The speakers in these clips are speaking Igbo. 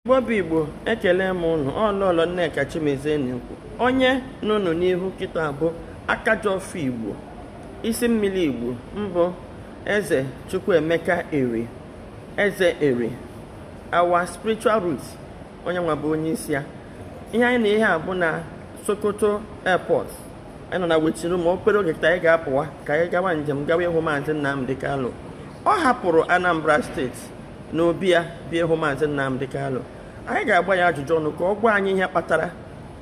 Igbo bụ Igbo ekele m ụnụ ọ Lọlọ Nneka Chimezie na-ekwu onye nọ ụnụ n'ihu kịta bụ Akajiọfọ Igbo isi mmiri Igbo mbụ Eze Chukwuemeka Eri Eze Eri our spiritual root onye nwa bụ onye isi ya ihe anyị na ihe a bụ na Sokoto airport anyị nọ na waiting room obere oge ka anyị ga-apụwa ka anyị gawa njem gawa ịhụ maazị Nnamdi Kanu ọ hapụrụ Anambra steeti na obi ya bịa ịhụ maazị Nnamdi Kanu anyị ga-agba ya ajụjụ ọnụ ka ọ gwa anyị ihe kpatara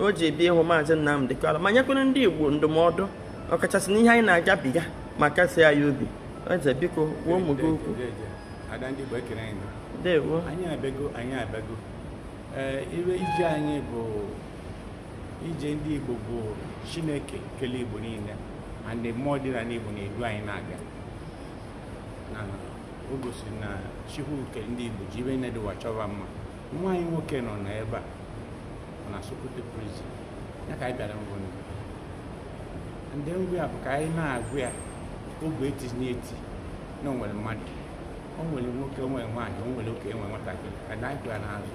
o ji bịa ịhụ maazị Nnamdi Kanu ma nyekwere ndị Igbo ndụmọdụ ọkachasị n'ihe anyị na-agabiga ma kasie anyị obi eze biko gwa ụmụ gị okwu ndewo anyị abịago anyị abịago ee iwe ije anyị bụ ije ndị Igbo bụ Chineke kele Igbo niile and ndị mmụọ dị na n'Igbo na-edu anyị na-aga na o gosiri na Chukwu nke ndị Igbo ji ibe nne dịwa chọba mma nwa anyị nwoke nọ na ebe a nọ na Sokoto prison ya ka anyị bịara ngwụ ndụ ndị ngwụ ya bụ ka anyị na-agwa ya obi etina eti na o nwere mmadụ o nwere nwoke o nwere nwaanyị o nwere okenye nwee nwatakịrị ka anyị kwụ ya n'azụ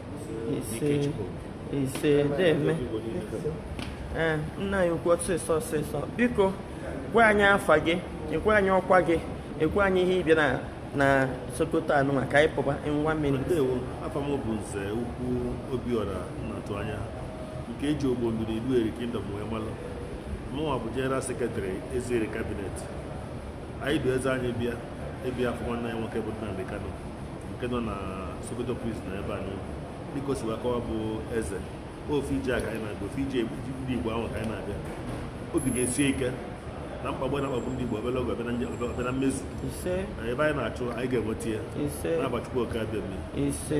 ise ise deme ee nna anyị ukwu ọsịsọ ọsịsọ biko gwa anyị afa gị ị gwa anyị ọkwa gị ị gwa anyị ihe ị bịara na sokoto anụnwa ka anyị pụba in one minute ndewo afa m bụ nze ukwu obiọra nnatụanya nke e ji ogbondi na iduu eri kingdom wee malụ mụnwa bụ general secretary eze eri cabinet anyị du eze anyị bịa ịbịa afụ nwanne anyị nwoke bụ Nnamdi Kanu nke nọ na Sokoto prison na ebe anyị dịka o si wee kọwa bụ eze ofu ije a ka anyị na-aga ofu ije ndị Igbo ahụ ka anyị na-aga obi ga-esie ike na mkpagbu a na-akpagbu ndị Igbo obere oge ọ bịa na nje- ọ bịa- ọ bịa na mmezu ise na ife anyị na-achụ anyị ga-enweta ya ise n'afa Chukwu oke abịama ise